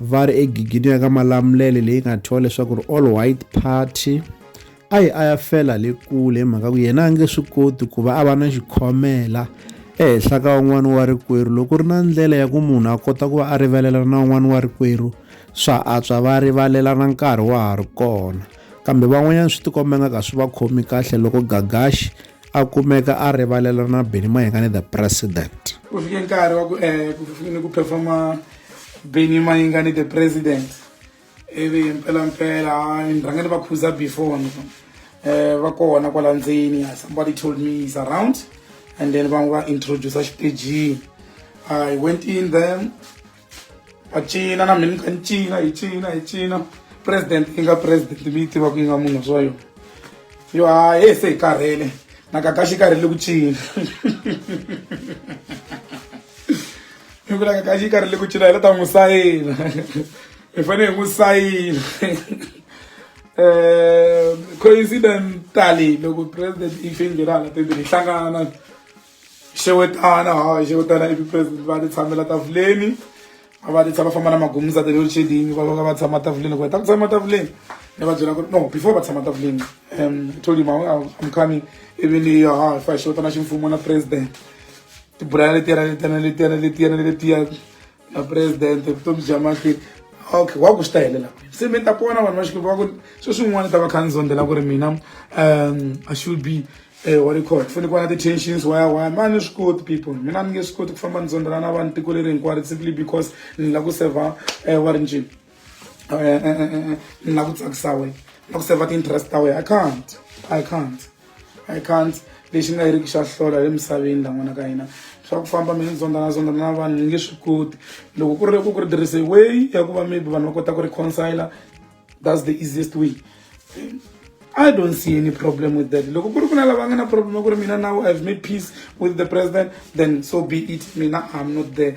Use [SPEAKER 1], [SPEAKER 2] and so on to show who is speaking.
[SPEAKER 1] va ri egigini ya ka malamulele leyi nga thyiwa leswaku ri all white party a yi a ya fela le kule hi mhaka ku yena a nge swi koti ku va a va na xikhomela ehenhla ka un'wana wa rikwerhu loko ku ri na ndlela ya ku munhu a kota ku va a rivalela na un'wana wa rikwerhu swa antswa va rivalelana nkarhi wa ha ri kona kambe van'wanyana swi tikomba nga ka swi va khomi kahle loko gagaxi a kumeka a rivalela na Benny Mayengani the president ku fike nkarhi wa
[SPEAKER 2] ku eh ku fike ku performa Benny Mayengani the president ivi mpela mpela ni rhanga ni va khuza before ni eh va kona kwala ndzeni somebody told me is around and then va n'wi va introduce xitejini i went in there macina na mheni ka ncina hi cina hi cina president yi nga president mi yi tiva ku yi nga munhu swa yona yo ha ye se hi karhele na kakaxi karhele ku cina hi ku la kakaxi yi karhele ku cina hi la ta n'wi sayina hi fanele hi n'wi sayina um coincidentally loko president yi fingirana tembeni hi hlangana xewetana hayi xewetana ivi president va ti tshamela tafuleni a va ti tshama famba na magumuza the load shedding va va va tshama tafuleni ku heta ku tshama tafuleni ni va byela ku no before va tshama tafuleni um told him i'm coming ivi ni yo ha fa xewetana ximfumo na president tibulala letiyana letiyana letiyana letiyana letiyana na president vutomi bya makhwiri okay wa ku swi ta helela se mi ta pona vanhu va xikipa va ku swo swin'wana ta va kha ni zondzela ku ri mina um i should be eh, wa record fanele ku va na ti-tensions waya waya ma ni swi koti people mina ni nge swi koti ku famba ni zondzela na vanhu tiko leri hinkwaro simply because ni lava ku server eh, wa rinjini ni na ku tsakisa wena na ku save ti-interest ta wena i can't i can't i can't lexi nga yiriki xa hlola le misaveni la n'wana ka hina swa ku famba mi ni zondzana zondzana na vanhu ni nge swi koti loko ku ri ku ku ri tirhise way ya ku va maybe vanhu va kota ku reconcile that's the easiest way I don't see any problem with that. Loko kuri kuna lava ngana problem kuri mina now I've made peace with the president then so be it mina I'm not there.